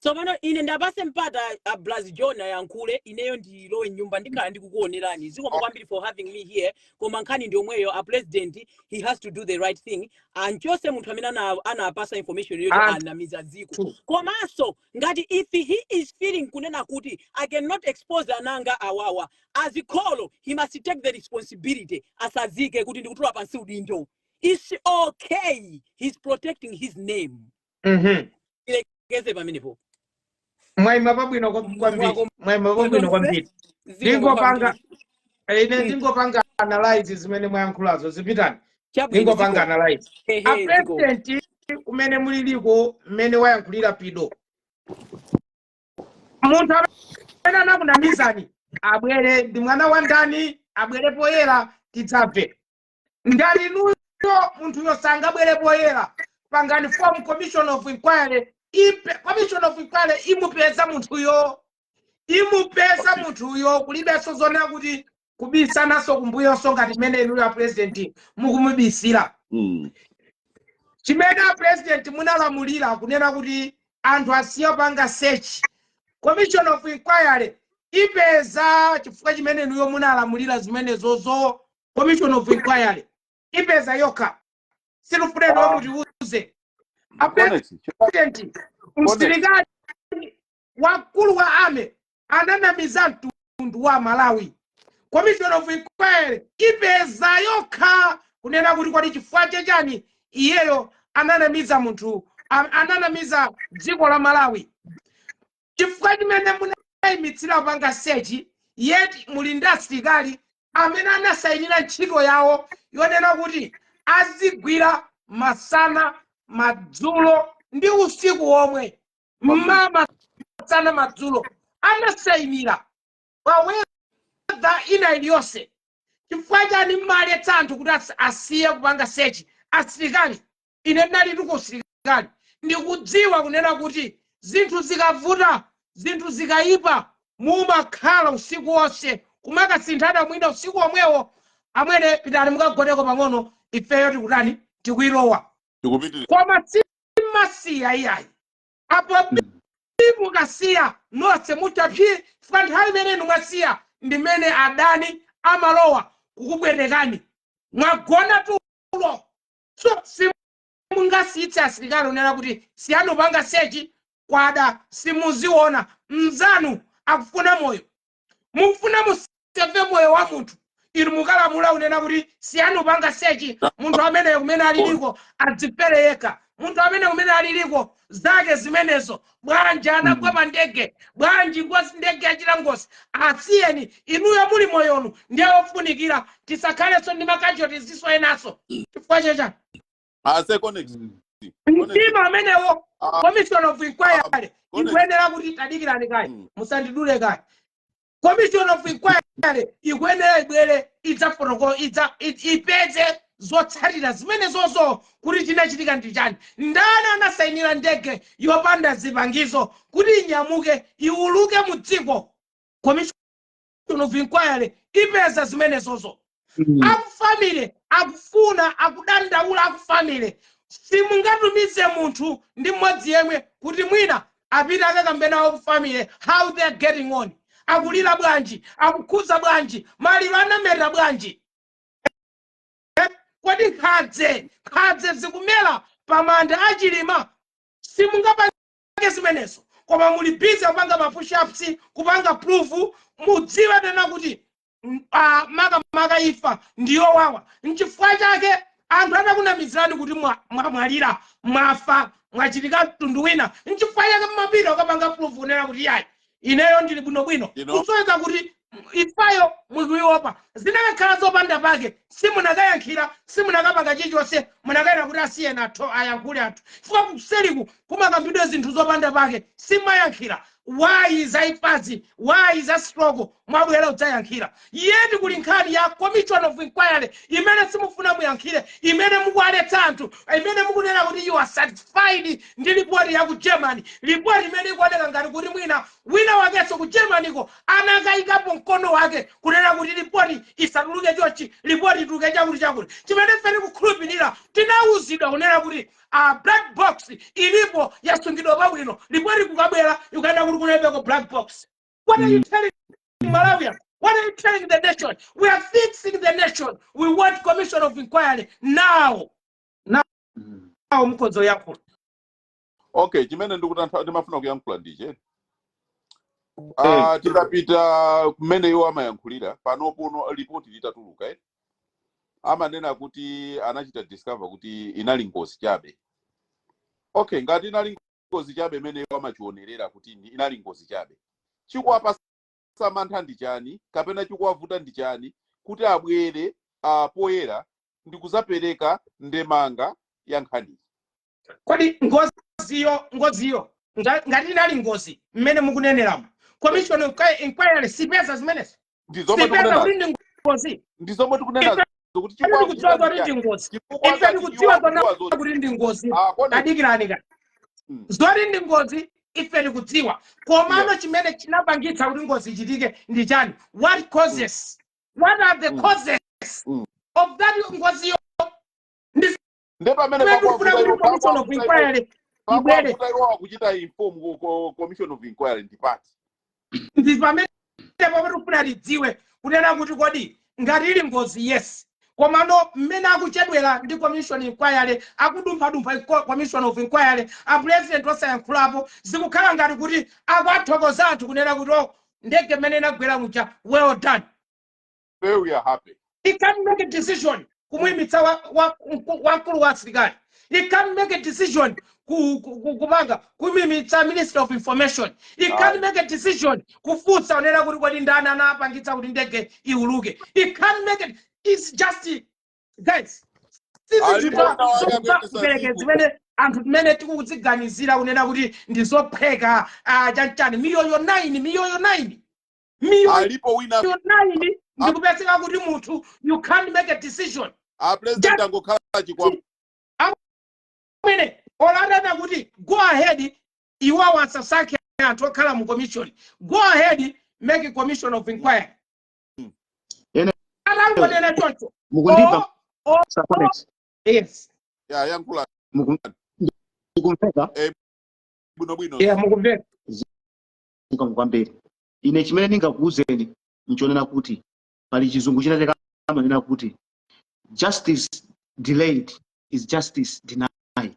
Tsopano ine ndapase mpata a Braz John ayankhule ineyo ndilowe m'nyumba ndikhala ndikukuonerani zikomo kwambiri for having me here koma nkhani ndi yomweyo a president he has to do the right thing amchotse munthu amene ana- anapasa information yoti anamiza dziko komanso ngati if he is feeling kunena kuti i cannot expose ananga awawa as kholo he must take the responsibility asazike kuti ndikutula pansi udindo it's okay he's protecting his name Mhm. Tilekeze pamenepo. Mwaima pabwino kwa- Mwaima pabwino kwambiri. Ine ndingopanga analyze zimene mwayankhulazo zipitani. Ndingopanga analyze. A president kumene muliliko mmene wayankhulira pido. Munthu amene anakunamizani abwere ndi mwana wa ndani abwere poyera tidzamve. ngati inuyo munthuyo sangabwere poyera pangani form commission of inquiry commission of inquiry imupeza munthuyo imupeza munthuyo kulibenso zonena kuti kubisananso kumbuyonso ngati mmene inuyo a president mukumubisira chimene a president munalamulira kunena kuti anthu asiye kupanga search commission of inquiry ipeza chifukwa chimene inuyo munalamulira zimenezozo commission of inquiry ipeza yokha sitikufuna kuti mutiuze apulezidenti msilikali wakulu wa ame ananamiza mtundu wa malawi commission of inquiry ipeza yokha kunena kuti kodi chifukwa chechani iyeyo ananamiza munthu a- ananamiza dziko la malawi chifukwa chimene munayimitsira kupanga search yet muli ndi asilikali amene anasayinira ntchito yawo yonena kuti azigwira masana madzulo ndi usiku womwe mmawa masana madzulo anasayinira pa weather ina iliyonse chifukwa chani mmaletsa anthu kuti as- asiye kupanga search asilikali Ine ndinalitu ku usilikali, ndikudziwa kunena kuti zinthu zikavuta, zinthu zikaipa, mumakhala usiku wonse kumakasinthana mwina usiku womwewo, Amwene pitani mukagoneko pang'ono, ifeyo tikutani, tikuilowa. Koma simmasiya iyayi. Apo bii mukasiya, nonse mutha psiti chifukwa nthawi imene inu mwasiya ndi imene adani amalowa kukupwetekani. Mwagona tulo. so simungasiyitse asilikali kunena kuti siyani kupanga sechi kwada simuziona mnzanu akufuna moyo mukufuna museve moyo wa munthu inu mukalamula kunena kuti siyani kupanga sechi munthu amene kumene aliliko adzipere yekha munthu amene kumene aliliko zake zimenezo bwanji anagwa Mm. pa ndege bwanji ngozi ndege yachita ngozi asiyeni inuyo muli moyonu ndiye ofunikira tisakhalenso ndi ma casualties enaso chifukwa cha chani mtima amenewo ah, commission of ah, inquiry ikuyenera kuti tadikirani kaye mm. musandidule kaye commission of inquiry ikuyenera ibwere idzafotokola idza i- ipeze zotsatira zimenezozo kuti chinachitika ndi chani ndani anasayinira ndege yopanda zipangizo kuti inyamuke iuluke mu dziko commission of inquiry ipeza zimenezozo Mm. a ku family akufuna akudandaula a ku family simungatumize munthu ndi mmodzi yemwe kuti mwina apite akakambe nawo ku family how they are getting on akulira bwanji akukhuza bwanji maliro anameta bwanji Eh, kodi nkhadze nkhadze zikumera pamanda a Chilima simungapange zimenezo koma muli busy kupanga ma push ups kupanga proof mudziwe tena kuti M- ah, makamaka ifa ndi yowawa nchifukwa chake anthu atakunamizirani kuti mwa- mwamwalira mwafa mwachitika mtundu wina nchifukwa chake mmapita ukapanga proof kunena kuti yayi ineyo ndili bwinobwino You know? kusonyeza kuti ifayo mukuiopa zinakakhala zopanda pake simunakayankhira simunakapanga chilichonse munakanena kuti asiyeni anthu ayankhule anthu chifukwa kuseliku kumakambidwa zinthu zopanda pake simayankhira why za ifazi why za stroke mwabwera udzayankhira yet kuli nkhani ya commission of inquiry imene simufuna muyankhire imene mukuwaletsa anthu imene mukunena kuti you are satisfied ndi lipoti ya ku germany lipoti imene ikuoneka ngati kuti mwina wina wakenso ku Germanyko anakayikapo mkono wake kunena kuti lipoti isatuluke chochi lipoti ituluke chakuti chakuti chimene ife tikukhulupirira tinawuzidwa kunena kuti a black box ilipo yasungidwa pabwino report ikukabwera ikukanena kuti kunalibeko black box what are you mm. telling Malawians What are you telling the nation? We are fixing the nation. We want commission of inquiry now. Now, mm. now mkodzo yako. Okay, chimene ndikutantha ndimafuna kuyankhula ndiche. Ah, tikapita kumene iwo amayankhulira panopano lipoti litatuluka eh. amanena kuti anachita discover kuti inali ngozi chabe okay ngati inali ngozi chabe imene iwo amachionerera kuti ndi- inali ngozi chabe chikuwapasa mantha ndi chani kapena chikuwavuta ndi chani kuti abwere uh, poyera ndi kuzapereka ndemanga ya nkhaniyi kodi ngoziyo ngoziyo nga- ngati inali ngozi mmene mukuneneramo commission of inquiry sipeza zimenezo ndizomwe ife tikunenazo kuti ndi ngozi ndizomwe tikunenazo ife kuti chifukwa tikudziwa akuchita kuti ndi chiyani ngozi chifukwa ife ngati iwo tikudziwa kona akudziwa zoti kuti ndi ngozi koma tadikirani kaye mm. zoti ndi ngozi ife tikudziwa yes komano chimene chinapangitsa kuti ngozi ichitike ndi chani what mm. causes what are the mm. causes mm. of that ngozi ndi nde pamene Kwetu pakwavuta kufuna kuti iwo commission of pakwavuta iwo inquiry ibwere pakwavuta iwo akuchita inform ku- ku- commission of inquiry ndi party ndi pamene pakufuna lidziwe kunena kuti kodi ngati ili ngozi yes komano mmene akuchedwera ndi commission inquiry akudumphadumpha inqu- commission of inquiry a president osayankhulapo zikukhala ngati kuti akuwathokoza anthu kunena kuti o ndege mmene inagwera muja well done Say we are happy. He can make a decision kumuimitsa wa- wa- mku- wamkulu wa asilikali. He can make a decision ku- ku- ku- kumanga kumuimitsa minister of information. He can Aye. make a decision kufunsa kunena kuti kodi ndani anapangitsa kuti ndege iuluke. He can make it. It's just guys. Sisi Alipo zinthu wina wake zokupa akuyendetsa kupereke dziko. zimene anthu mmene tikuziganizira kunena kuti ndizophweka ah, chanchani miyoyo 9 miyoyo 9 miyoyo alipo wina naini ndikupezeka kuti munthu you can't make a decision a president Just- angokhala chikwama amene olo adanena kuti go ahead iwawo asasankhe anthu okhala mu commission go ahead make a commission of inquiry Mm. Ene- atangonena choncho mukundimva Oh, oh, Sir Collins? yes ya yankhula Muku- mukumveka bwinobwino yeah mukumveka mukumveka kwambiri ine chimene ndingakuwuzeni nchonena kuti pali chizungu chinachake amanena kuti justice delayed is justice denied